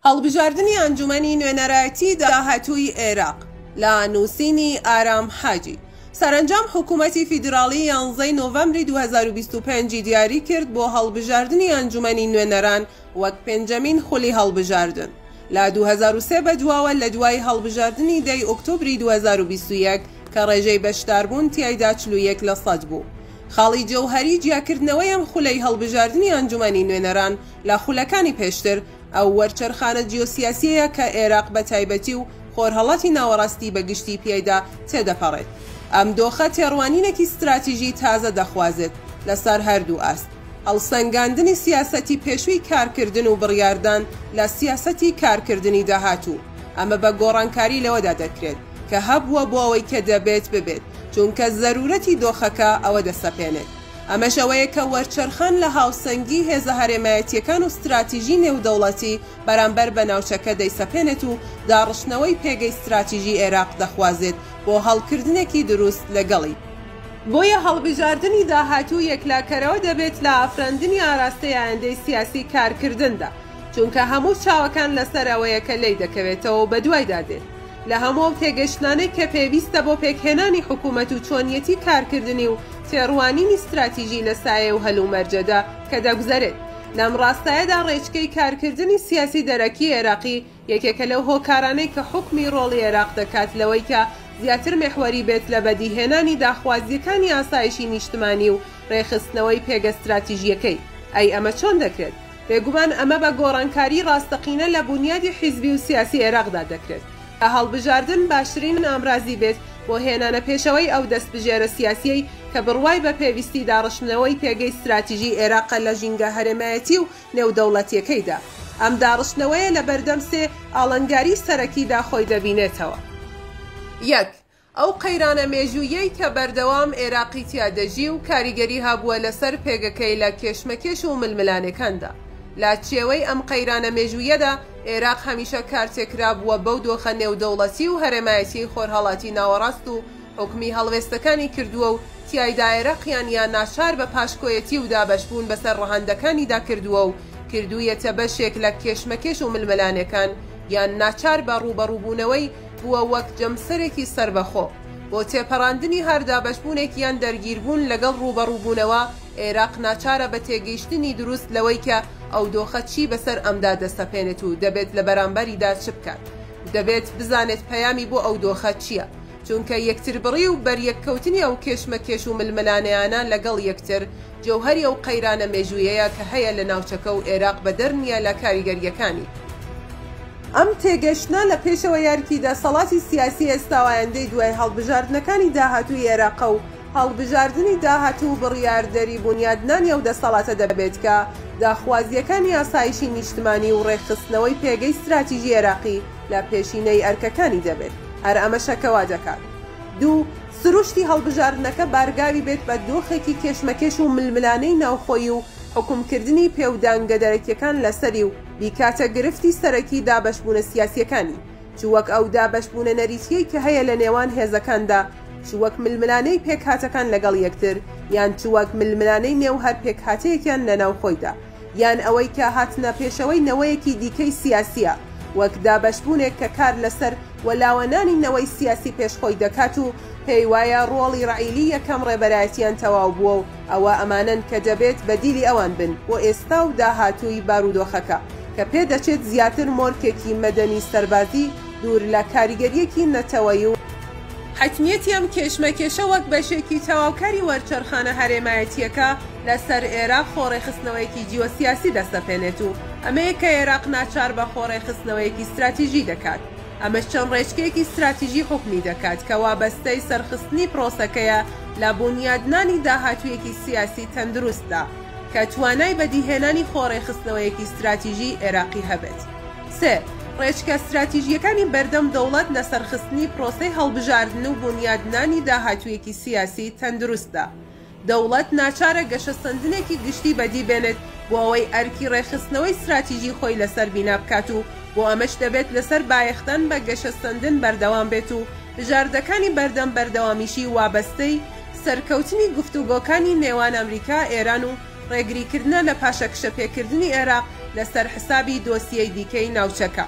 هەڵبژاردنی ئەنجومەنی نوێنەرایەتی داهاتووی عێراق لە نووسینی ئارام حاجی سەرەنجام حکومەتی فیدراڵی یانزەی نۆڤەمبری دوو هەزار و بیست و پێنج ی دیاری کرد بۆ هەڵبژاردنی ئەنجومەنی نوێنەران وەک پێنجەمین خولی هەڵبژاردن لە دوو هەزار و سێ بەدواوە لە دوای هەڵبژاردنی دە ی ئۆکتۆبری دوو هەزار و بیست و یەک کە ڕێژەی بەشداربوون تیایدا چل و یەک لە سەد بوو. خاڵی جەوهەری جیاکردنەوەی ئەم خولەی هەڵبژاردنی ئەنجومەنی نوێنەران لە خولەکانی پێشتر، ئەو وەرچەرخانە جیۆسیاسییەیە کە ئێراق بە تایبەتی و خۆرهەڵاتی ناوەڕاستی بە گشتی پێیدا تێدەپەڕێت. ئەم دۆخە تێڕوانینێکی ستراتیژی تازە دەخوازێت لەسەر هەردوو ئاست، هەڵسەنگاندنی سیاسەتی پێشووی کارکردن و بڕیاردان لە سیاسەتی کارکردنی داهاتوو. ئەمە بە گۆڕانکاری لەوەدا دەکرێت کە هەبووە بۆ ئەوەی کە دەبێت ببێت، چونکە زەروورەتی دۆخەکە ئەوە دەسەپێنێت. ئەمەش ئەوەیە کە وەرچەرخان لە هاوسەنگی هێزە هەرێمایەتییەکان و ستراتیژی نێودەوڵەتی بەرامبەر بە ناوچەکە دەیسەپێنێت و داڕشتنەوەی پێگەی ستراتیژی ئێراق دەخوازێت بۆ هەڵکردنێکی دروست لەگەڵی. بۆیە هەڵبژاردنی داهاتوو یەکلاکەرەوە دەبێت لە ئافراندنی ئاراستەی ئایندەی سیاسی کارکردندا، چونکە هەموو چاوەکان لەسەر ئەوەیە کە لێی دەکەوێتەوە و بەدوایدا دێت. لە هەموو ئەو تێگەشتنانەی کە پێویستە بۆ پێکهێنانی حکوومەت و چۆنیەتی کارکردنی و تێڕوانینی ستراتیژی لە سایەی ئەو هەلومەرجەدا کە دەگوزەرێت لەم ڕاستایەدا ڕێچکەی کارکردنی سیاسی دەرەکی عێراقی یەکێکە لەو هۆکارانەی کە حوکمی ڕۆڵی عێراق دەکات لەوەی کە زیاتر مێحوەری بێت لە بەدیهێنانی داخوازییەکانی ئاسایشی نیشتمانی و ڕێکخستنەوەی پێگە ستراتیژییەکەی. ئەی ئەمە چۆن دەکرێت؟ بێگومان ئەمە بە گۆڕانکاری ڕاستەقینە لە بونیادی حیزبی و سیاسی عێراقدا دەکرێت کە هەڵبژاردن باشترین ئامرازی بێت بۆ هێنانە پێشەوەی ئەو دەستبژێرە سیاسیەی کە بڕوای بە پێویستی داڕشتنەوەی پێگەی ستراتیژی عێراقە لە ژینگە هەرێمایەتی و نێودەوڵەتیەکەیدا. ئەم داڕشتنەوەیە لە بەردەم سێ ئاڵنگاری سەرەکیدا خۆی دەبینێتەوە. یەک، ئەو قەیرانە مێژووییەی کە بەردەوام ئێراقی تیا دەژی و کاریگەری هەبووە لەسەر پێگەکەی لە کێشمەکێش و ململانێکاندا. لە چێوەی ئەم قەیرانە مێژووییەدا، ئێراق هەمیشە کارتێکرا بووە بەو دۆخە نێودەوڵەتی و هەرێمایەتیەی خۆرهەڵاتی ناوەڕاست و حوکمی هەڵوێستەکانی کردووە و تیایدا ئێراقیان یا ناچار بە پاشکۆیەتی و دابەشبوون بەسەر ڕەهەندەکانیدا کردووە و کردوویەتە بەشێک لە کێشمەکێش و ململانێکان یان ناچار بە ڕووبەڕووبوونەوەی بووە وەک جەمسەرێکی سەربەخۆ بۆ تێپەڕاندنی هەر دابەشبوونێک یان دەرگیربوون لەگەڵ ڕووبەڕووبوونەوە، ئێراق ناچارە بە تێگەیشتنی دروست لەوەی کە ئەو دۆخە چی بەسەر ئەمدا دەسەپێنێت و دەبێت لە بەرامبەریدا چ بکات و دەبێت بزانێت پەیامی بۆ ئەو دۆخە چییە چونکە یەکتربڕی و بەریەککەوتنی ئەو کێشمەکێش و ململانێیانە لەگەڵ یەکتر جەوهەری ئەو قەیرانە مێژوویەیە کە هەیە لە ناوچەکە و ئێراق بەدەر نییە لە کاریگەرییەکانی. ئەم تێگەشتنە لە پێشەوە یارکی دەسەڵاتی سیاسی ئێستا و ئایندەی دوای هەڵبژاردنەکانی داهاتووی ئێراقە و هەڵبژاردنی داهاتوو بڕیاردەری بونیادنانی ئەو دەسەڵاتە دەبێت کە داخوازییەکانی ئاسایشی نیشتمانی و ڕێکخستنەوەی پێگەی ستراتیژی ئێراقی لە پێشینەی ئەرکەکانی دەبێت. هەر ئەمەشە کە وا دەکات. دوو، سروشتی هەڵبژاردنەکە بارگاوی بێت بە دۆخێکی کێشمەکێش و ململانێی ناوخۆیی و حوکمکردنی پێ و دانگە دەرەکیەکان لەسەری و بیکاتە گرفتی سەرەکی دابەشبوونە سیاسیەکانی چ وەک ئەو دابەشبوونە نەریتیەی کە هەیە لە نێوان هێزەکاندا چ وەک ململانێی پێکهاتەکان لەگەڵ یەکتر یان چ وەک ململانێی نێو هەر پێکهاتەیەکیان لەناو خۆیدا. یان ئەوەی کە هاتنە پێشەوەی نەوەیەکی دیکەی سیاسییە، وەک دابەشبوونێک کە کار لەسەر وەلاوەنانی نەوەی سیاسی پێش خۆی دەکات و پێی وایە ڕۆڵی ڕەعیلی یەکەم ڕێبەرایەتیان تەواو بووە و ئەوە ئەمانەن کە دەبێت بەدیلی ئەوان بن بۆ ئێستا و داهاتووی بارودۆخەکە کە پێدەچێت زیاتر مۆرکێکی مەدەنی سەربازی دوور لە کاریگەرییەکی نەتەوەیی و حەتمیەتی ئەم کێشمەکێشە وەک بەشێکی تەواوکاری وەرچەرخانە هەرێمایەتییەکە. لەسەر ئێراق خۆڕێکخستنەوەیەکی جیۆسیاسی دەسەپێنێت و ئەمەیە کە ئێراق ناچار بە خۆڕێکخستنەوەیەکی ستراتیژی دەکات. ئەمەش چەند ڕێچکەیەکی ستراتیژی حکومی دەکات کە وابەستەی سەرخستنی پرۆسەکەیە لە بونیادنانی داهاتوویەکی سیاسی تەندروستدا کە توانای بەدیهێنانی خۆڕێکخستنەوەیەکی ستراتیژی ئێراقی هەبێت. سێ، ڕێچکە ستراتیژییەکانی بەردەم دەوڵەت لە سەرخستنی پرۆسەی هەڵبژاردن و بونیادنانی داهاتوویەکی سیاسی تەندروستدا، دەوڵەت ناچارە گەشەسەندنێکی گشتی بەدی بێنێت بۆ ئەوەی ئەرکی ڕێکخستنەوەی ستراتیژی خۆی لەسەر بینا بکات و بۆ ئەمەش دەبێت لەسەر بایەخدان بە گەشەسەندن بەردەوام بێت و بژاردەکانی بەردەم بەردەوامیی وابەستەی سەرکەوتنی گفتوگۆکانی نێوان ئەمریکا، ئێران و ڕێگریکردنە لە پاشەکشەپێکردنی عێراق لەسەر حسابی دۆسیەی دیکەی ناوچەکە.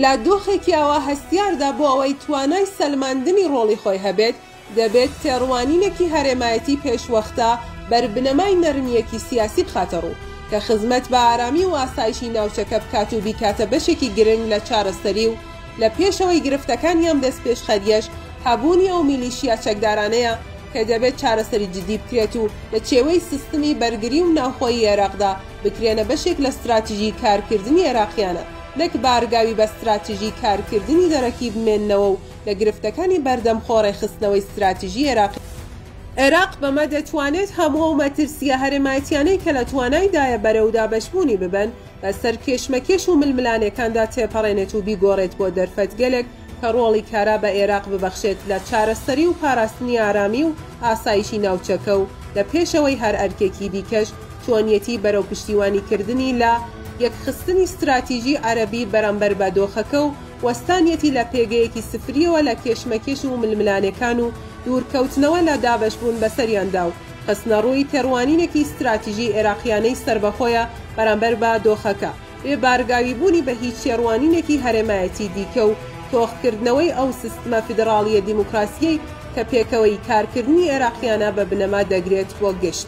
لە دۆخێکی ئاوا هەستیاردا بۆ ئەوەی توانای سەلماندنی ڕۆڵی خۆی هەبێت، دەبێت تێڕوانینێکی هەرێمایەتی پێشوەختە بەر بنەمای نەرمییەکی سیاسی بخاتە ڕوو، کە خزمەت بە ئارامی و ئاسایشی ناوچەکە بکات و بیکاتە بەشێکی گرنگ لە چارەسەری و لە پێشەوەی گرفتەکانی ئەم دەستپێشخەرییەش هەبوونی ئەو میلیشیا چەکدارانەیە کە دەبێت چارەسەری جدی بکرێت و لە چێوەی سستمی بەرگری و ناوخۆیی عێراقدا بکرێنە بەشێک لە ستراتیژی کارکردنی عێراقیانە نەک بارگاوی بە ستراتیژی کارکردنی دەرەکی بمێننەوە و لە گرفتەکانی بەردەم خۆ ڕێکخستنەوەی ستراتیژی عێراقی. عێراق بەمە دەتوانێت هەموو ئەو مەترسییە هەرێمایەتیانەی کە لە توانایدایە بەرەو دابەشبوونی ببەن، بەسەر کێشمەکێش و ململانێکاندا تێپەڕێنێت و بیگۆڕێت بۆ دەرفەتگەلێک کە ڕۆڵی کارا بە عێراق ببەخشێت لە چارەسەری و پاراستنی ئارامی و ئاسایشی ناوچەکە و لە پێشەوەی هەر ئەرکێکی دیکەش چۆنیەتی بەرەو پشتیوانیکردنی لە یەکخستنی ستراتیژی عەرەبی بەرامبەر بە دۆخەکە و وەستانیەتی لە پێگەیەکی سفریەوە لە کێشمەکێش و ململانێکان و دوورکەوتنەوە لە دابەشبوون بەسەریاندا و خستنەڕووی تێڕوانینێکی ستراتیژی عێراقییانەی سەربەخۆیە بەرامبەر بە دۆخەکە، بێ بارگاویبوونی بە هیچ تێڕوانینێکی هەرێمایەتی دیکە و تۆخکردنەوەی ئەو سستمە فیدڕاڵییە دیموکراسییەی کە پێکەوەیی کارکردنی عێراقییانە بە بنەما دەگرێت و گشت